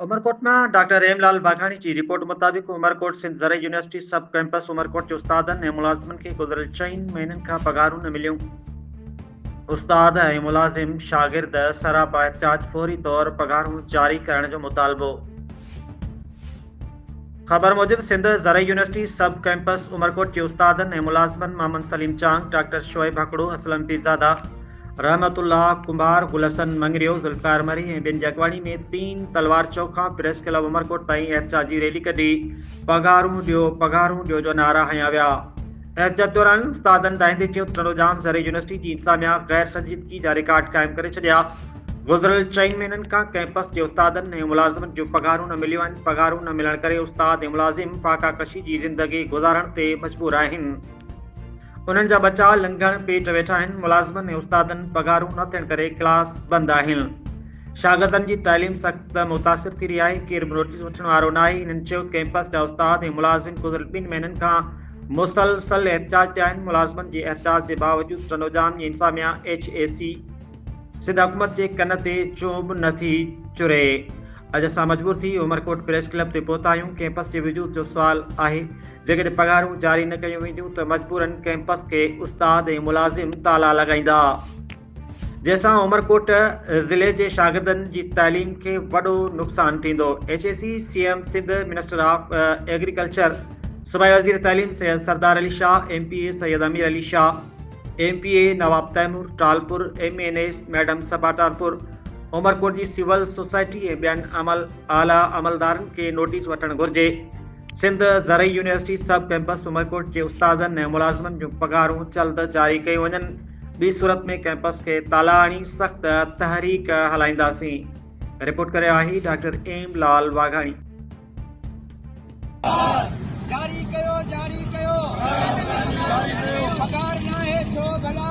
عمرڪوٽ مان ڊاڪٽر رحيم لال باگاڻي جي رپورٽ مطابق عمرڪوٽ سنڌ زرعي يونيورسٽي سب ڪئمپس عمرڪوٽ جي استادن ۽ ملازمن کي گذريل چئن مهينن کان پگهارون نه مليون استاد ۽ ملازم شاگرد سراپا احتجاج فوري طور پگهارون جاري ڪرڻ جو مطالبو خبر موجب سنڌ زرعي يونيورسٽي سب ڪئمپس عمرڪوٽ جي استادن ۽ ملازمن محمد سليم چانگ ڊاڪٽر شعيب هڪڙو اسلم پيرزاده رحمت الله ڪنڀار، گل حسن مڱريو، ذوالفقار مري ۽ ٻين جاکواڻي ۾ تين تلوار چوڪ کان پريس ڪلب عمرڪوٽ تائين احتجاجي ريلي ڪڍي پگهارون ڏيو، پگهارون ڏيو جو نعرا هنيا ويا. احتجاج دوران استادن ڏاهندي چيو ته ٽنڊو ڄام زرعي يونيورسٽي جي انتظاميا غير سنجيدگي جا رڪارڊ قائم ڪري ڇڏيا، گذريل چئن مهينن کان ڪئمپس جي استادن ۽ ملازمن جون پگهارون نه مليون آهن، پگهارون نه ملڻ ڪري استاد ۽ ملازم فاقا ڪشي جي زندگي گذارڻ تي مجبور آهن. انهن جا ٻچا لنگهڻ پيٽ ويٺا آهن، ملازمن ۽ استادن پگهارون نه ٿيڻ ڪري ڪلاس بند آهن. شاگردن جي تعليم سخت متاثر ٿي رهي آهي، ڪير به نوٽيس وٺڻ وارو نه آهي، انهن چيو ڪئمپس جا استاد ۽ ملازم گذريل ٻن مهينن کان مسلسل احتجاج تي آهن، ملازمن جي احتجاج جي باوجود ٽنڊوڄام جي انتظاميا ايڇ اي سي، سنڌ حڪومت جي ڪن تي چون به نه ٿي چري، اڄ اسان مجبور ٿي عمرڪوٽ پريس ڪلب تي پهتا آهيون، ڪئمپس جي وجود جو سوال آهي، جيڪڏهن پگهارون جاري نه ڪيون وينديون ته مجبوراً ڪئمپس کي استاد ۽ ملازم تالا لڳائيندا، جنهن سان عمرڪوٽ ضلعي جي شاگردن جي تعليم کي وڏو نقصان ٿيندو، H E C C M Sindh, minister of agriculture, صوبائي وزير تعليم Syed Sardar Ali Shah, M P A Syed Amir Ali Shah, M P A Nawab Taimur Talpur, M N A madam Saba Talpur, Umerkot جي سول سوسائٽي ۽ ٻين اعليٰ عملدارن کي نوٽيس وٺڻ گهرجي. سنڌ زرعي يونيورسٽي سب ڪئمپس عمرڪوٽ جي استادن ۽ ملازمن جون پگهارون جلد جاري ڪيون وڃن ٻي صورت ۾ ڪئمپس کي تالا هڻي سخت تحريڪ هلائينداسين رپورٽ ڪري آهي ڊاڪٽر ايم لال واگهاڻي جاري ڪيو جاري ڪيو پگهار ناهي ڇو ڀلا